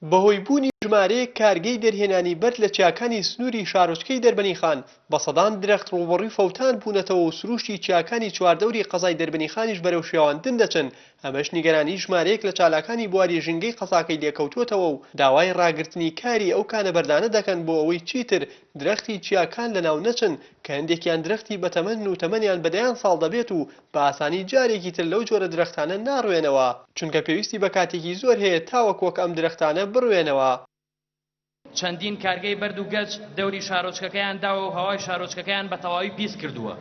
بەهۆی بوونی ژمارەیەک کارگەی دەرهێنانی بەرد لە چیاکانی سنووری شارۆچکەی دەربەنیخان، بە سەدان درەخت ڕووبەڕووی فەوتان بوونەتەوە و سرووشتی چیاکانی چواردەوری قەزای دەربەنیخانیش بەرەو شێواندن دەچن، ئەمەش نیگەرانی ژمارەیەک لە چالاکانی بواری ژینگەی قەزاکەی لێکەوتووەتەوە و داوای ڕاگرتنی کاری ئەو کانە بەردانە دەکەن بۆ ئەوەی چیتر درەختی چیاکان لەناو نەچن کە هەندێکیان درەختی بەتەمەنن و تەمەنیان بە دەیان ساڵ دەبێت و بە ئاسانی جارێکی تر لەو جۆرە درەختانە ناڕوێنەوە، چونکە پێویستی بە کاتێکی زۆر هەیە تاوەک وەک ئەم درەختانە بڕوێنەوە. چەندین کارگەی بەرد و گەچ دەوری شارۆچکەکەیان داوە و هەوای شارۆچکەکەیان بە تەواوی پیس کردووە،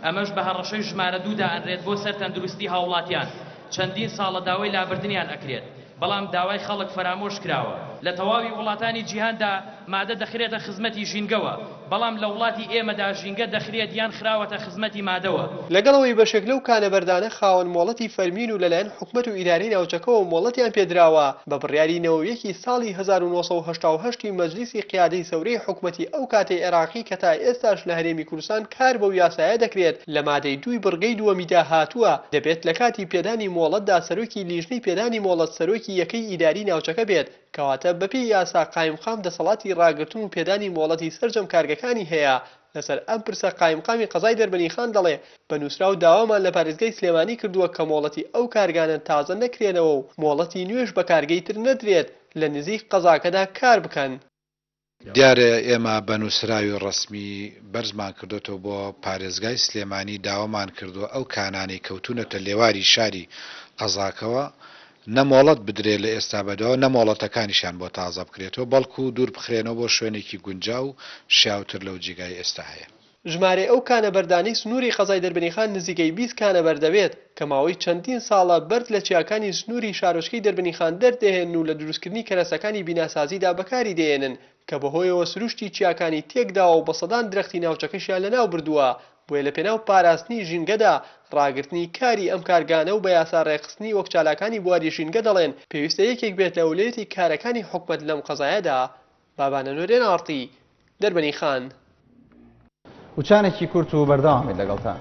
ئەمەش بە هەڕەشەی ژمارە دوو دائەنرێت بۆ سەر تەندروستی هاوڵاتیان، چەندین ساڵە داوای لابردنیان ئەکرێت. بەڵام داوای خەڵک فەرامۆش کراوە. لە تەواوی وڵاتانی جیهاندا مادە دەخرێتە خزمەتی ژینگەوە، بەڵام لە وڵاتی ئێمەدا ژینگە دەخرێت یان خراوەتە خزمەتی مادەوە. لەگەڵ ئەوەی بەشێک لەو کانە بەردانە خاوەن مۆڵەتی فەرمین و لەلایەن حکومەت و ئیدارەی ناوچەکەوە مۆڵەتیان پێدراوە، بە بڕیاری نەوەویەکی ساڵی هەزار و نۆ سەد و هەشتا و هەشت ی مەجلیسی قیادەی سەورەی حکومەتی ئەو کاتی عێراقی کە تا ئێستاش لە هەرێمی کوردستان کار بەو یاسایە دەکرێت، لە مادەی دووی بڕگەی دووەمیدا هاتووە، دەبێت لە کاتی پێدانی مۆڵەتدا سەرۆکی لیژنەی پێدانی مۆڵەت سەرۆکی یەکەی ئیداری ناوچەکە بێت، کەواتە بەپێی یاسا قایمقام دەسەڵاتی ڕاگرتن و پێدانی مۆڵەتی سەرجەم کارگەکانی هەیە، لەسەر ئەم پرسە قایمقامی قەزای دەربەنیخان دەڵێ، بە نووسراو داوامان لە پارێزگای سلێمانی کردووە کە مۆڵەتی ئەو کارگانە تازە نەکرێنەوە و مۆڵەتی نوێش بە کارگەی تر نەدرێت لە نزیک قەزاکەدا کار بکەن. دیارە ئێمە بە نووسراوی ڕەسمی بەرزمان کردۆتەوە بۆ پارێزگای سلێمانی داوامان کردووە ئەو کانانەی کەوتوونەتە لێواری شاری قەزاکەوە نە مۆڵەت بدرێت لە ئێستا بەدواوە نە مۆڵەتەکانیشیان بۆ تازە بکرێتەوە بەڵکو دوور بخرێنەوە بۆ شوێنێکی گونجاو و شیاوتر لەو جیگای ئێستا هەیە. ژمارەی ئەو کانە بەردانەی سنووری قەزای دەربەنیخان نزیکەی بیست کانە بەر دەبێت، کە ماوەی چەندین ساڵە بەرد لە چیاکانی سنووری شارۆچکەی دەربەنیخان دەردەهێنن و لە دروستکردنی کەرەسەکانی بیناسازیدا بەکاری دەهێنن، کە بەهۆیەوە سروشتی چیاکانی تێکداوە و بە سەدان درەختی ناوچەکەشیان لەناوبردووە، بۆیە لەپێناو پاراستنی ژینگەدا ڕاگرتنی کاری ئەم کارگانە و بە یاسا ڕێکخستنی وەک چالاکانی بواری ژینگە دەڵێن پێویستە یەکێک بێت لە ئەولەیەتی کارەکانی حکومەت لەم قەزایەدا بابانە نۆرێن ئاڕتی دەربەنی خان. وچانێکی کورت و بەردەوام بیت لەگەڵتان.